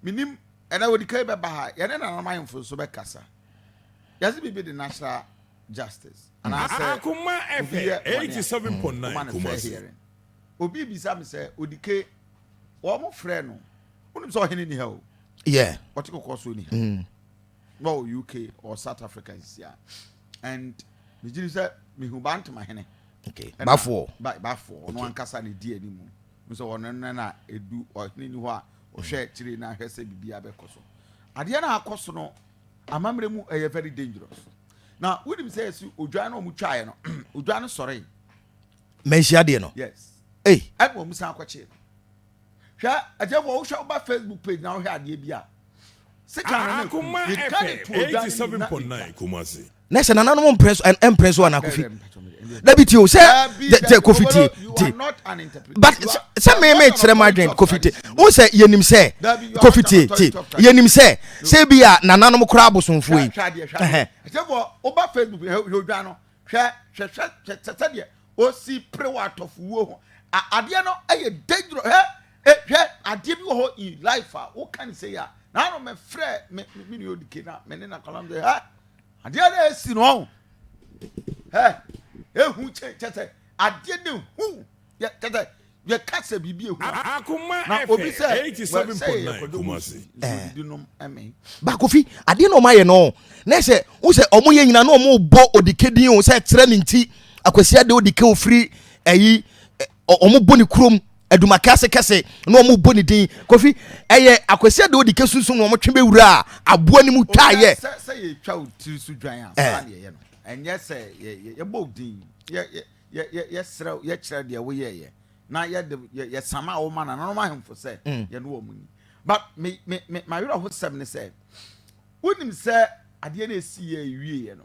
Menim, ɛnɛ ɔdi kan bɛba ha. Yɛne nananom ahemfo nso bɛkasa. Yɛse biribi de natural justice anaasɛ obi yɛ bɔne a, woma no fair hearing. Obi rebisa me sɛ, Odike, wɔfrɛɛ no, wonim sɛ ɔhene nni ha o. Ɔte kɔkɔɔ so ɔnni ha. Na ɔwɔ UK, ɔwɔ South Africa nsi a. And megye di sɛ mehu Bantama hene. Bafoɔ. Bafoɔ, ɔno ankasa na ɛdi anim. Hu sɛ wɔn nna no a edu ɔhene ni hɔ a ɔhwɛ akyiri na ahwɛ sɛ biribiara bɛkɔ so. Adeɛ no a akɔ so no, amammerɛ mu ɛyɛ very dangerous. Na wonim sɛ yɛsi odwan no a wɔn twaeɛ no, odwan no sɔree. Manhyia adeɛ no. Yes. Ei. Ɛna wɔn san akɔkyee no. Hwɛ, ɛdeɛ wɔ wohwɛ woba Facebook page na wohwɛ adeɛ bi a. na sɛ nananom mpere so mpere so ana kofi dabi tie o sɛ sɛ kofi tie tie but sɛ mɛmɛ kyerɛ ma adwene kofi tie o sɛ yɛnim sɛ kofi tie tie yɛnim sɛ sɛ bi a nananom koraa abosomfoɔ yi. ɛsɛ fɔ o ba facebook yɛ o dwa no hwɛ hwɛ hwɛ sɛ sɛ deɛ o si pere wa atɔfo wuo ho adeɛ no ɛyɛ dangerous hɛ. E, hwɛ, adeɛ bi wɔ hɔ in life a woka ne sɛ yɛ a na ano mɛfrɛ me me nua odike na me ne na kɔla msɛ hɛ adeɛ na ɛsi no ɔho hɛ ehu kyɛ kyɛ sɛ adeɛ na ehu yɛ kyɛ sɛ yɛka sɛ biribi ehu na obi sɛ sɛ yɛ kɔdɔ mu si nsuo di nom ɛmɛ. bakofi adeɛ na ɔmo ayɛ no na ɛsɛ n sɛ ɔmo yɛ nyina na ɔmo bɔ odike din o sɛ kyerɛ ne nti akwasi adeɛ odike ofiri ɛyi. wɔn bɔ ne kurom adumaka ase kɛse na wɔn bɔ ne din kofi ɛyɛ akwasi adi odi kesunsun na wɔn twe bɛ wura a aboa ne mu twa yɛ. sɛ sɛ yɛ twa o tiri so dwan a saa na yɛ yɛ no ɛnyɛ sɛ yɛ yɛ yɛ bɔ din yɛ yɛ yɛ yɛ yɛ srɛ yɛ kyerɛ deɛ wo yɛ yɛ na yɛ de yɛ yɛ sama a wɔma na na wɔn ahemfo sɛ yɛ no wɔn mu ni but me me me ma werɛ ho sɛm ne sɛ wonim sɛ adeɛ na esi yɛ ewie yɛ no.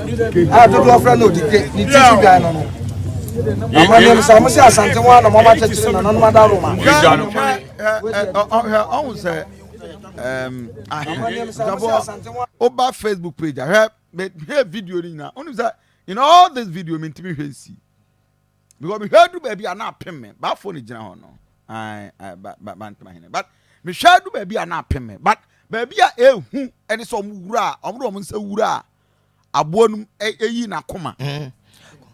a dodoɔ frɛ no odike ne ti so dwan no no amane no sɛ ɔmo sɛ asante ho a na ɔmo akyekyere na nanom ada roma ɔho sɛ ahwɛ woba facebook page ahwɛ mehwɛ video no nyinaa wonim sɛ in all this video mentumi hwɛ nsi because mehwɛ du baabi a na apem me baafo no gyina hɔ no bantama hene but mehwɛ du baabi a na apem me but baabi a ehu ɛne sɛ ɔmo wura a ɔmo de ɔmo nsa wura a aboa no mu ɛyi n'akoma. Mm.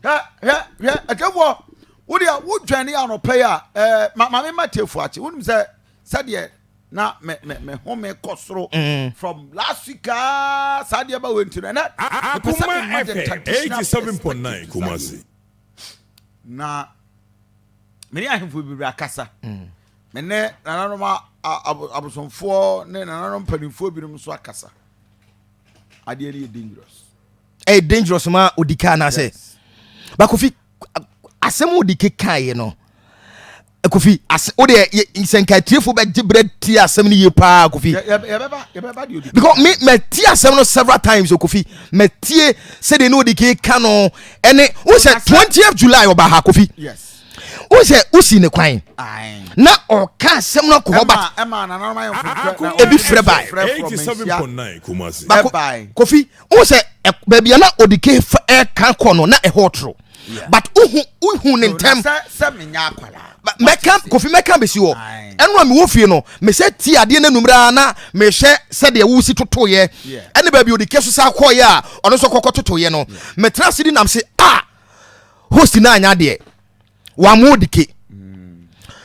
Hwɛ hwɛ hwɛ ɛtɛfoɔ wo deɛ wo dwɛn yɛ anɔpɛ yɛ a ɛɛ eh, ma maame ma tiefoɔ akyi wonim sɛ sɛdeɛ na me me me ho me kɔ soro mm. from last week aa saa deɛ ba wɔ nti no ɛnɛ mepɛ sɛ me ma the traditional perspective kumasi na me ne ahemfo bebree akasa mm. me ne nananom abosomfoɔ ne nananom mpanimfoɔ binom nso akasa. adeɛ no yɛ dangerous ɛyɛ dangerous ma odi kaa na sɛ bakofi asɛm odi kekaeɛ no kofi ase o deɛ sɛ nka atiefo bɛgye berɛ ti asɛm no yie paa kofi because me mati asɛm no several times o kofi matie sɛdeɛ ne odi keka no ɛne wo sɛ 20th july ɔba ha kofi yes o sɛ wosi ne kwan na ɔka asɛm no akɔ hɔ ba ebi frɛ bae kofi wo sɛ baabi a na ɔde ke ɛka kɔ no na ɛhɔ toro but wohu wohu ne ntɛm mɛka kofi mɛka bɛsi hɔ ɛno a mewɔ fie no mesɛ ti adeɛ no anumera na mehwɛ sɛdeɛ wosi totoeɛ ɛne baabi ɔde ke so sa kɔeɛ a ɔno nso kɔkɔ totoeɛ no metena ase di nam se a ah, host no anya deɛ wamu dike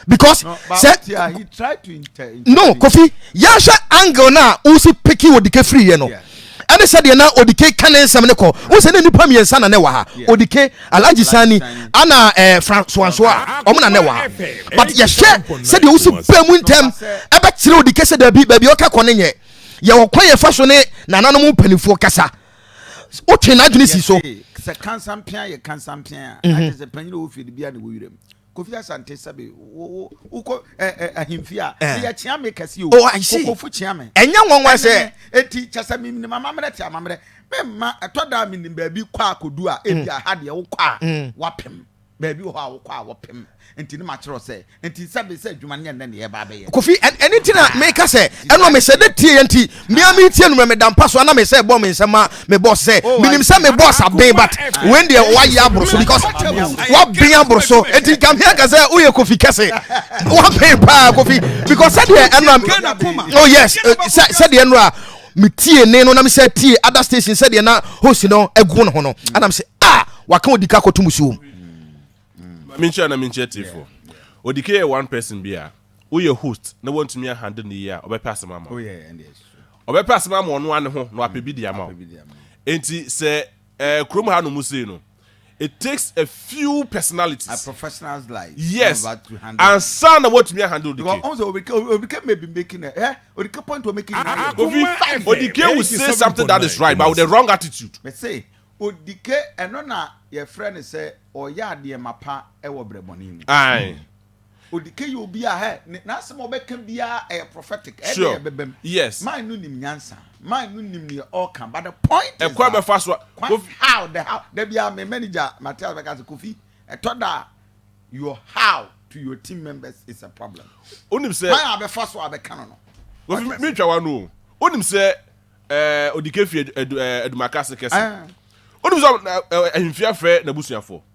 because no, sɛ he tried to inter, inter, no kofi yɛhwɛ angle no a wosi peki odike firiiɛ no ɛne sɛdeɛ na odike ka ne nsɛm no kɔ wo sɛ ne nnipa mmiɛnsa na ne wɔ ha odike alagye sani ana eh, fransoanso a ɔmo na ne wɔ ha but yɛhwɛ sɛdeɛ wosi baa mu ntɛm ɛbɛkyerɛ odike sɛ daabi baabi ɔka kɔ ne nyɛ yɛwɔ kwan yɛfa so ne nananom mpanimfoɔ kasa wotwe n'adwene si so. sɛ kansampea yɛ kansampea a mhm. agye sɛ panyin a wɔfie no biara ne wɔ werɛm kofi asante sɛbe wokɔ ahemfie a meyɛkyea me kɛse o kokofo kyea me ɛnyɛ nwanwa sɛ ɛti kyɛ sɛ menim amammerɛ te amammerɛ memma ɛtɔ da a menim baabi kɔ a kɔdu a ebia ha deɛ wokɔ a wapem Baabi wɔ hɔ a wokɔ a wɔpem, enti na makyerɛw sɛ, Enti sɛ bere sɛ adwuma no nyɛ nnɛ na yɛreba abɛyɛ. Kofi, Ɛno nti na meka sɛ, ɛno a mehyɛ da tieɛ nti, me ara meretie no mmerɛ meda mpa so, anaa me sɛ bɔ me nsam ma me boss sɛ, Oh, I Menim see, sɛ me boss m'akoma aben, but a. wei deɛ wayɛ aboro so, because Ɛno nti na wayɛ waben aboro aboro so, so. enti nka me anka sɛ woyɛ Kofi kɛse. Waben paa, Kofi, because sɛdeɛ ɛno a, Kofi, Ghana poma. oh yes, eh, sɛ, sɛdeɛ ɛno a, metiee nne no na mesɛ tie ada station sɛdeɛ na host no agu ne ho no anam sɛ a waka odika kɔto musuom menkyerɛ na menkyerɛ tiefoɔ odika yɛ one person bi a woyɛ host na woantumi ahande no yie a ɔbɛpɛ asɛm ama wo ɔbɛpɛ asɛm ama ɔno ane ho na wapɛ bi de ama wo enti sɛ Eh, kurom ha nom sei no, it takes a few personalities. A professionals like. Yes. Ansa na watumi ahandle Odike. Because also Odike, Odike may be making a, eh, Odike point we're making. Ah, ah, Kofi, Odike will say something that is right, but with the wrong attitude. Me say, Odike, ɛno na yɛfrɛ no sɛ ɔyɛ adeɛ mapa ɛwɔ brɛbɔne mu. Aye. Odike yɛ obi a hɛ ne n'asɛm a ɔbɛka biara ɛyɛ prophetic ɛyɛ deɛ ɛbɛbɛm. Yes. Man no nim nyansa. Man no nim neɛ ɔɔka but the point is that. Ɛkwan bɛfa so a. Kofi. How the how da biara me manager Matthias bɛka sɛ Kofi ɛtɔ da a your how to your team members is a problem. Onim sɛ. Kwan a bɛfa so a bɛka no no. Kofi me ntwa w'ano o. Onim sɛ ɛɛ Odike fi ɛdu ɛɛ Adumaka ase kɛse. Onim sɛ ɛɛ Ahemfie afrɛ n'abusuafoɔ.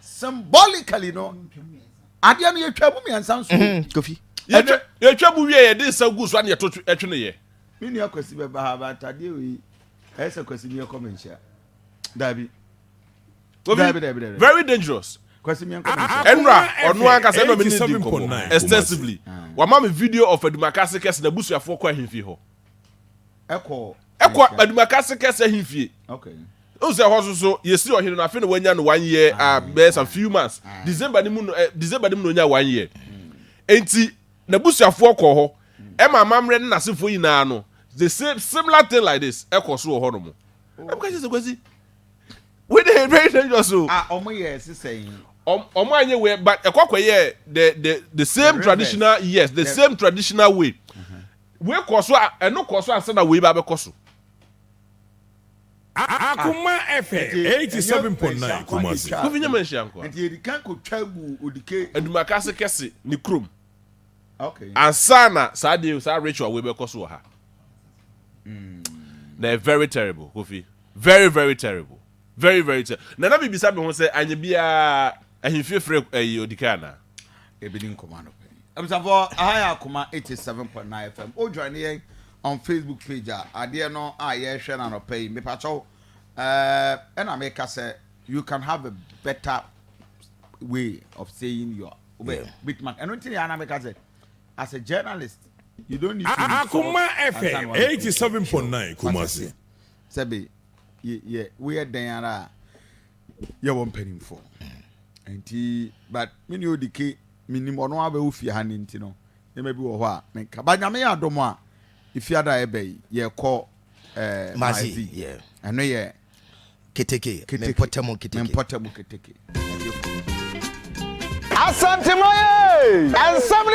symbolically no adeɛ no yɛtwa mu mmiɛnsa nso mm-hmm. kofi yɛtwa mu wie yɛde nsa gu so ana yɛto ɛtwe no yɛ me nua kwasi bɛba ha ba atadeɛ wei ɛyɛ sɛ kwasi mi ɛkɔ me nhyia daabi daabi daabi daabi very dangerous kwasi mi ɛkɔ me nhyia ɛnura ɔno ankasa ɛnura mi ni di nkɔmɔ extensively ah. wama mi video of adumakase kɛse na busuafoɔ kɔ ahemfie hɔ. ɛkɔ Adumakase kɛse ahemfie o sɛ hɔ soso yɛsi ɔhene no afei na wanya no one year ah, ah, bɛyɛ sa few months ah. december no mu no eh, december no mu na onya one year enti n'abusuafoɔ kɔ hɔ ɛma amammerɛ ne n'asefoɔ nyinaa no the same similar thing like this ɛkɔ so wɔ hɔ no mu ɛmu ka kyerɛ sɛ kwasi wey dey very dangerous o. a ɔmo yɛ ɛsi sɛyin. ɔmo anyi wɛ but ɛkɔ kɔ yɛ the the the same traditional yes the same traditional way. Wei kɔɔ so a, ɛno kɔɔ so ansa na wei ba abɛkɔ so. Akoma FM eighty seven point nine Kumasi. Kofi nyɛ manhyia nkoa. Nti yɛdi kan kɔ twa gu odike. Adumakase kɛse ne kurom. Okay. Ansa na saa deɛ saa ritual wei bɛkɔ so wɔ ha. Na ɛyɛ very terrible Kofi. Very very terrible. Very very terrible. Na na mi bisa mi ho sɛ anyɛ biara ahemfie frɛ ɛyi odike anaa. yɛbɛdi nkɔmmɔ anɔpa yi abusafoɔ aha yɛ akoma 87.9 fm o join yɛn on facebook page a adeɛ no a yɛrehwɛ no anɔpa yi mepakyɛw ɛna meka sɛ you can have a better way of saying your yeah. bit man ɛno nti ne ana meka sɛ as a journalist you don't need to akoma fm 87.9 kumase sɛbe yɛ woyɛ dɛn ara a yɛ wɔ mpanimfoɔ hmm. nti but me ne ɔdi ke menim ɔno abɛwo fie ha ne nti no nneɛma bi wɔ hɔ a menka ba nyame yɛ adom a efiada a ɛbɛ yi yɛkɔ eh, mazi ɛno yɛ keteke mempɔtamu keteke mempɔtamu keteke asantemaye ɛnsɛm ne